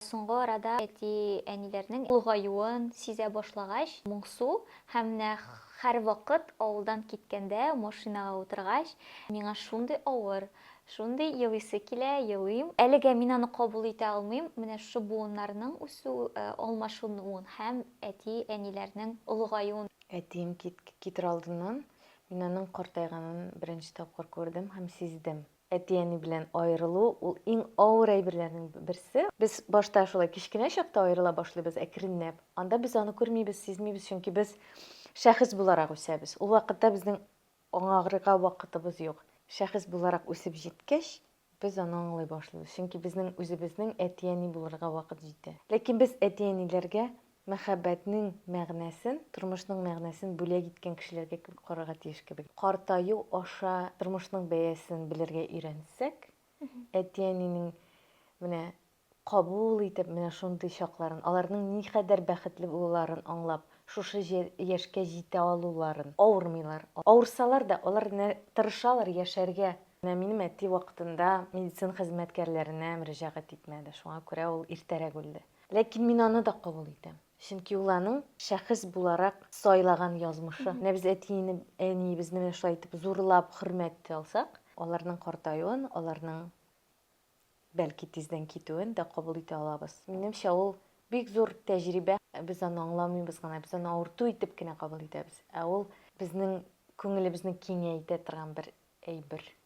Соңгы арада әти-әниләрнең олыгаюын сизә башлагач, моңсу һәм менә һәрвакыт авылдан киткәндә, машинага утыргач, миңа шундый авыр, шундый елыйсы килә, елыйм. Әлегә мин аны кабул итә алмыйм, менә шушы буыннарның үсү, алмашынуын һәм әти-әниләрнең олыгаюын. Әтием китер алдыннан мин аның картайганын беренче тапкыр күрдем һәм сиздем. Әти-әни белән аерылу, ул иң авыр әйберләрнең берсе. Без башта шулай кечкенә чакта аерыла башлыйбыз, әкренләп. Анда без аны күрмибез, сизмибез, чөнки без шәхес буларак үсәбез. Ул вакытта безнең аңагрыга вакытыбыз юк. Шәхес буларак үсеп җиткәч, без аны аңлый башлыйбыз, чөнки безнең үзебезнең әти-әни булырга вакыт җитә. Ләкин без әти-әниләргә Мәхәббәтнең мәгънәсен, тормышның мәгънәсен бүләк иткән кешеләргә кебек карарга тиеш кебек. Картаю аша тормышның бәясен белергә өйрәнсәк, әти-әнинең менә кабул итеп менә шундый чакларын, аларның никадәр бәхетле булуларын аңлап, шушы яшькә җитә алуларын, авырмыйлар, авырсалар да, алар тырышалар яшәргә. Менә минем әти вакытында медицина хезмәткәрләренә мөрәҗәгать итмәде, шуңа күрә ул иртәрәк үлде. Ләкин мин аны да кабул итәм. Чөнки ул аның шәхес буларак сайлаган язмышы. Менә без әтине, әниебезне менә шулай итеп зурлап, хөрмәт итә алсак, аларның картаюын, аларның, бәлки, тиздән китүен дә кабул итә алабыз. Минемчә, ул бик зур тәҗрибә. Без аны аңламыйбыз гына, без аны авырту итеп кенә кабул итәбез. Ә ул безнең күңелебезне киңәйтә торган бер әйбер.